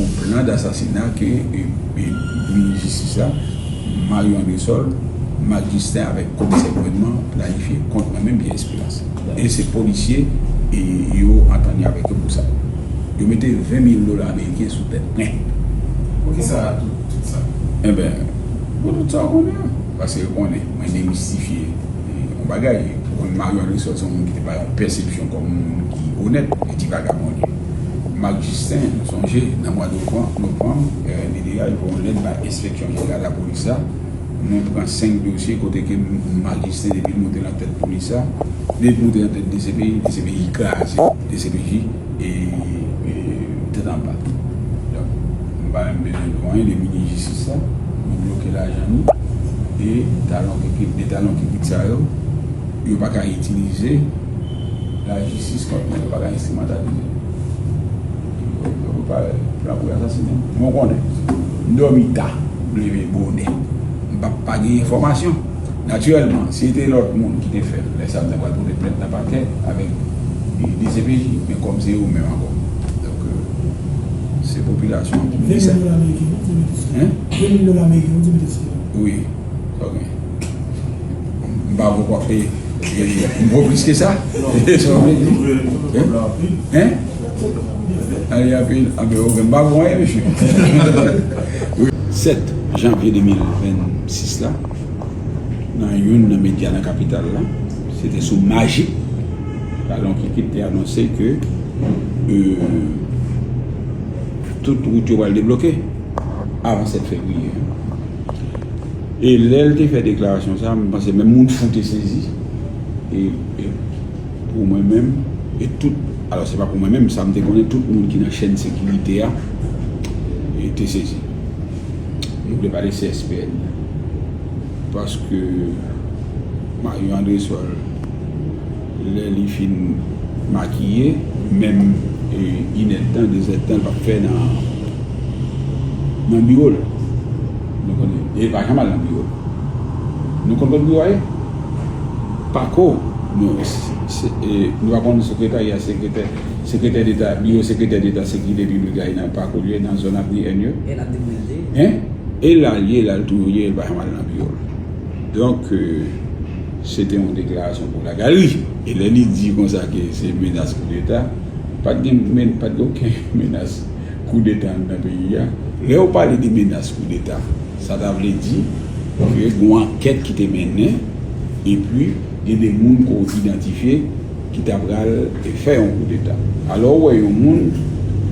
yon plan dasasina ke Minis Jistis la, Mario Andresol, Marc Justin avèk Komisè Gouvènman planifye kont mwen menm Pierre Esperance. E se polisye yo antann yo avèk yo pou sa. Yo mete 20 mil dola ameriken sou tèt mwen. Poukisa tout sa? Enben, pou tout sa ou konnen an. Paske yo konnen mwen demistifye yon bagay. Ou konnen Mario Andresol se yon moun ki te bay yon pèsepsyon kòm yon moun ki onèt. Li di vagabon li. Marc Justin sonje nan mwa novanm RMD a voye yon lèt bay enspeksyon jeneral lapolis la, mwen pran 5 dosye kote ke Marc Justin depi l moute nan tèt polis la, depi l moute nan tèt dcpj, dcpj kraze, dcpj tèt anba. Donk m pa menm bezwen di w anyen de minis jistis la, yo bloke lajan nou e talon kikit, 2 talon kikit sa yo, yo pa ka itilize. Lajistis kont mwen yo paka enstrimentalize m yo pa pran pou yo asasinen m bon konnen m domi ta m leve bonè m pa pa gen enfomasyon natirelman si te lot moun ki te fel le sa m ta pral pote plent nan pakè avek dcpj men kom se yo menm anko donk se popilasyon an ki mete sa 20 dola meriken wi di mete sou yo 20 dola meriken wi di mete sou yo wi ok m pa vle w ap peye. M pran plis ke sa? E sa w vle di? Hein? Ann li anpil? Anpil ok m pa bon anyen mesye. 7 janvye 2026 la nan youn nan medya nan kapital la se te sou maji Kalon Kikit te anonse ke tout wout yo pral debloke avan 7 fevriye. E lè l te fè deklarasyon sa, m panse menm moun fou te sezi. E pou mwen menm, e tout, alò se pa pou mwen menm, sa m te konnen tout moun ki nan chèn sekirite a te sezi. M vle pale CSPN nan. Paske Mario Andresol. Lè li fin makiye, menm inèdtan, dezèdtan l pa p fè nan biwo l. Nou konnen, e li pa janm al nan biwo l. Nou konn kot biwo a ye? Pako, nou pa konn sekretarya sekretè, sekretè deta, biwo sekretè deta sekirite piblik la ye nan Pako l ye, nan zòn Avni N yo. E l ap dekonekte. E la l ye, la l toujou ye, li pa janm al nan biwo l. Donk. Se te yon deklarasyon pou Lagari. E lè li di konsa ke se menas koudeta, pa t gen men, pa t gen oken menas koudeta anndan peyi a. Lè yo pale de menas koudeta, sa ta vle di ke gen yon ankèt ki te mennen epi gen de moun ke w idantifye ki ta pral fè yon koudeta. Alò ou wè yon moun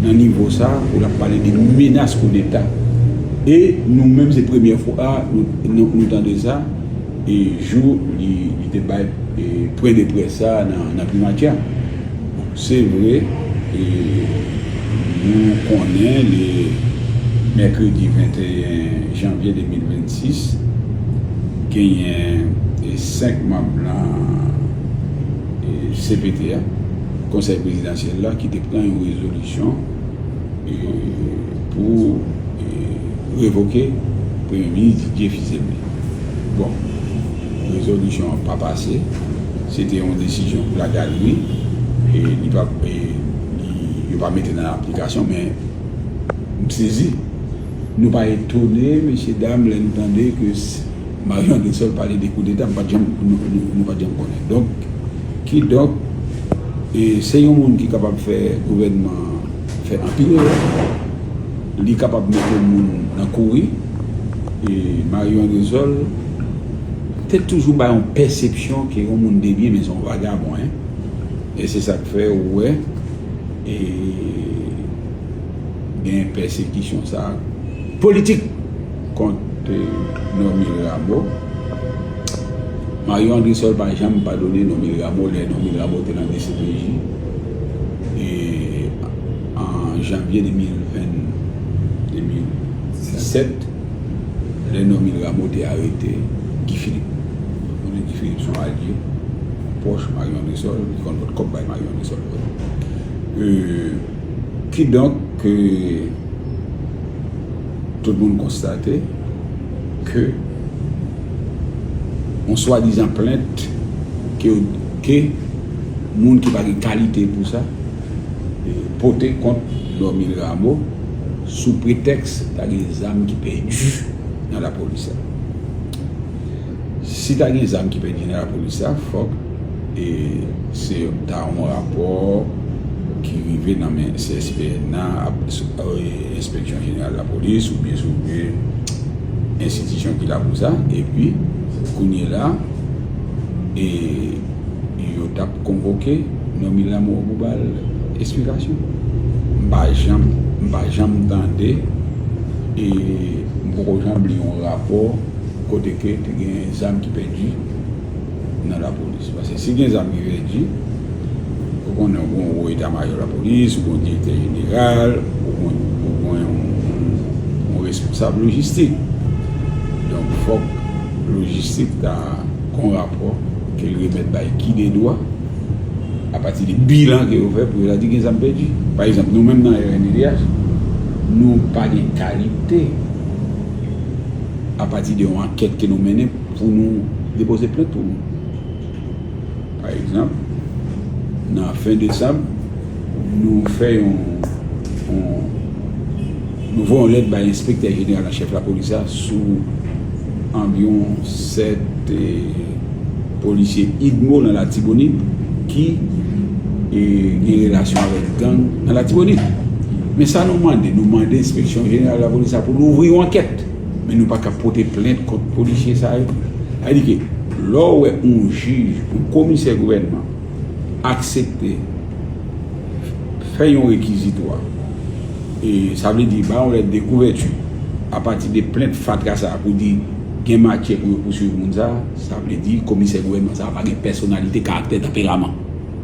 nan nivo sa pou l ap pale de menas koudeta. E nou menm se premyè fwa nou tande sa. E jou li te bay pwen de près sa a nan Primati a. Bon, se vre, nou konnen li mèkredi 21 janvye 2026, genyen 5 manm nan cpt a, Konsèy Prezidansyèl la, ki te pran yon rezolisyon, pou revoke premye minis Didier Fils-Aimé. Bon, rezolisyon an pa pase, se te yon desizyon pou lagalri, e li pa, e li, yo pa mete nan aplikasyon, men, m sezi. Nou pa etone, mesye dam, lè nou tande ke Mario André Seul pale de koudeta, m pa t janm, nou pa t janm konnen. Donk. Kidonk, se yon moun ki kapab fè gouvènman an fè anpil erè. Li kapab mete moun nan kouri. Marion Aresol te toujou bay yon pèsepsyon ke yon moun debyen men se yon vagabon. E se sa k fè ou wè gen pèsekisyon sa a. Politik! Kont Normil Ramo Mario Andresol pa janm padone Normil Ramo lè Normil Ramo te nan dcpj an janvye 2017 lè Normil Ramo te arete Guy Philippe nou konnen Guy Philippe son alye yon pwòch Mario Andresol li konn pot kòb bay Mario Andresol vre kidonk Tout moun konstate ke yon swadizan plent ke moun ki pa gen kalite pou sa pote kont Normil Rameau sou pretèks ta gen zam ki pèdi nan lapolis la. Si ta gen zam ki pèdi nan lapolis la fòk e se ta yon rapò ki rive nan men CSPN nan ap enspeksyon jeneral lapolis ou byen sou byen enstitisyon ki la pou sa e pi kounye la e yo tap konvoke Normil Lamoureux pou bal esplikasyon m pa janm m pa janm tande e m poko janm li yon rapò. kote ke te gen zam ki pèdi nan lapolis. Paske si gen zam ki pèdi, ou konnen ou gon wo eta mayo lapolis, ou gon direktè jeneral, ou gon yon responsab lojistik. Donk fòk lojistik ta gon rapò ke l remèt bay kidedwa a pati de bilan ke yo fè pou yo ta di gen zam pèdi. Pa egzanp, nou menm nan rnddh, nou pa gen kalite. a pati de yon ankèt ke nou mennen pou nou depoze plent pou moun. Pa egzanp, nan fen desanm, nou fè yon, nou voye yon lèt bay enspektè jeneral an chèf lapolis la sou anviwon 7 e. Polisye Idmo nan Latibonit ki gen relasyon avèk gang nan Latibonit. Men sa nou mande, nou mande enspeksyon jeneral lapolis la pou louvri yon ankèt. Men nou pa ka pote plent kont polisye sa yo. Sa vle di ke lè w wè yon jij, yon komisè gouvènman aksepte fè yon rekizitwa, sa vle di bay yon lèt de kouvèti apati de plent fatra sa pou di gen matyè pou yo pouswiv moun sa, Sa vle di, komisè gouvènman sa a pa gen pèsonalite, karaktè, tanperaman.